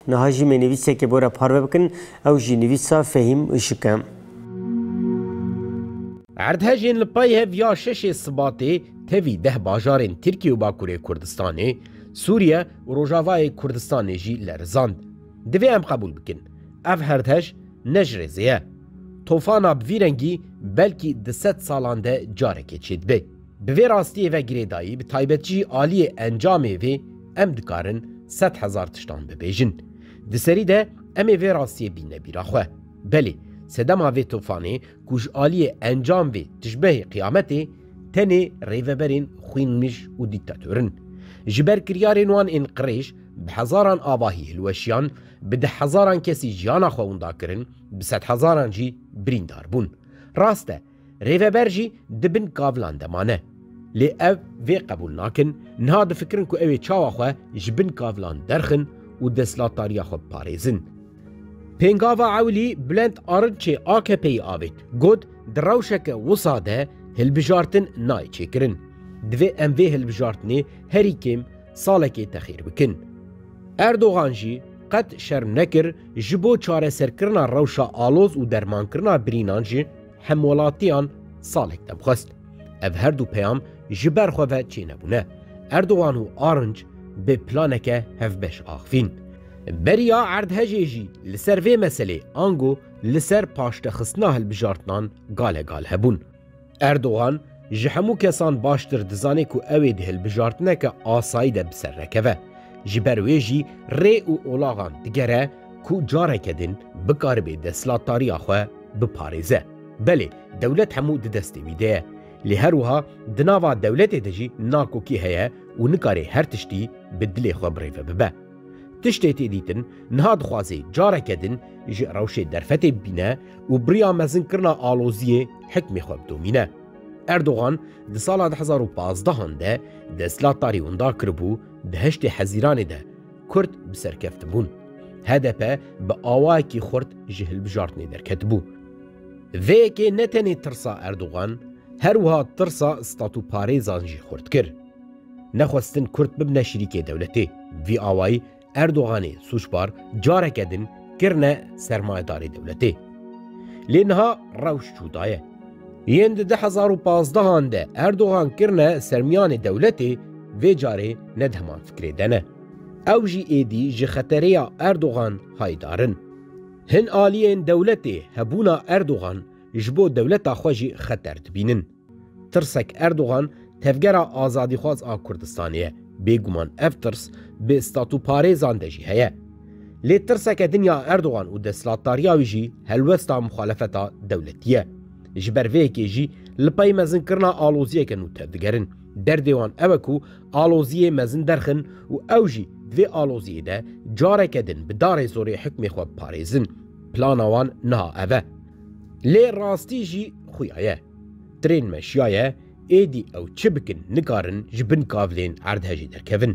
Niha jî me nivîseke bor e parve bikin, ew jî nivîsa Fehîm Işık e. Erdhejên li pey hev ya şeşê Sibatê tevî deh bajarên Tirkiye û Bakurê Kurdistanê, Sûriye û Rojavayê Kurdistanê jî lerizand. Divê em qebûl bikin, ev herdhej ne ji rêzê ye. Tofana bi vî rengî belkî di sed salan de carekê çêdibe. Bi vê rastiyê ve girêdayî bi taybet jî aliyê encamê vê em dikarin sed hezar tiştan bibêjin. Di serî de em ê vê rastiyê bînne bîra xwe. Belê sedema vê tofanê ku ji aliyê encam vê tişbehê qiyametê tenê rêveberên xwînmij û dîktator in. Ji ber kiryarên wan ên qirêj bi hezaran avahî hilweşiyan, bi deh hezaran kesî jiyana xwe winda kirin, bi sedhezaran jî birîndar bûn. Rast e Rêveber jî di bin kavilan de mane. Lê ev vê qebûl nakin, niha difikirin ku ew ê çawa xwe ji bin kavilan derxin û destlatariya xwe biparêzin. Pêngava ewilî Bulent Arınçê AKP'yê avêt, got, Di rewşeke wisa de hilbijartin nayê çêkirin. Divê em vê hilbijartinê herî kêm salekê texîr bikin. Erdogan jî qet şerm nekir ji bo çareserkirina rewşa aloz û dermankirina birînan jî, Hemwelatiyan salek demxwest. Ev her du peyam ji ber xwe ve çênebûne. Erdogan û Arnc bi planeke hevbeş axivîn. Beriya erdhejê jî li ser vê meselê ango li ser paştexistina hilbijartinan gale gal hebûn. Erdogan Ji hemû kesan baştir dizanê ku ew ê di hilbijartineke asayî de bi ser nekeve. Ji ber wê jî rê û olaxan digere ku careke din bikaribê destlatdariya xwe biparêze. Belê dewlet hemû di destê wî de ye. Lê her wiha di nava dewletê de jî nakokî heye û nikarê her tiştî bi dilê xwe birêve bibe. Tiştê têdîtin niha dixwaze careke din ji rewşê derfetê bibîne û bi riya mezinkirina aloziyê hikmê xwe bidomîne. Erdogan di sala du hezar û pazdehan de desthilat tarî windar kiribû, di heştê hezîranê de Kurd bi ser keftibûn. HDP bi awayekî xurt ji hilbijartinê derketibû. Vê yekê ne tenê tirsa Erdogan, her wiha tirsa statûparêzan jî xurt kir. Nexwestin Kurd bibne şirîkê dewletê. Vî awayî Erdoganê sûcbar careke din kirine sermayedarê dewletê. Lê niha rewş cuda ye. Yên di du hezar û pazdeh an de Erdogan kirine sermiyanê dewletê, vê carê ne di heman fikrê de ne. Ew jî êdî ji xetereya Erdogan hayîdar in. Hin aliyên dewletê hebûna Erdogan ji bo dewleta xwe jî xeter dibînin. Tirsek Erdogan tevgera azadîxwaz a Kurdistanê ye. Bêguman ev tirs bi statûparêzan de jî heye. Lê tirseke din ya Erdogan û desthilatdariya wî jî helwesta muxalefeta dewletî ye. Ji ber vê yekê jî li pey mezinkirina aloziyeke nû tevdigerin. Derdê wan ew e ku aloziyê mezin derxin û ew jî di vê aloziyê de careke din bi darê zorê hikmê xwe biparêzin. Plana wan niha ev e. Lê rastî jî xuya ye. Trên meşiya ye, êdî ew çi bikin nikarin ji bin kavlên erdhejê derkevin.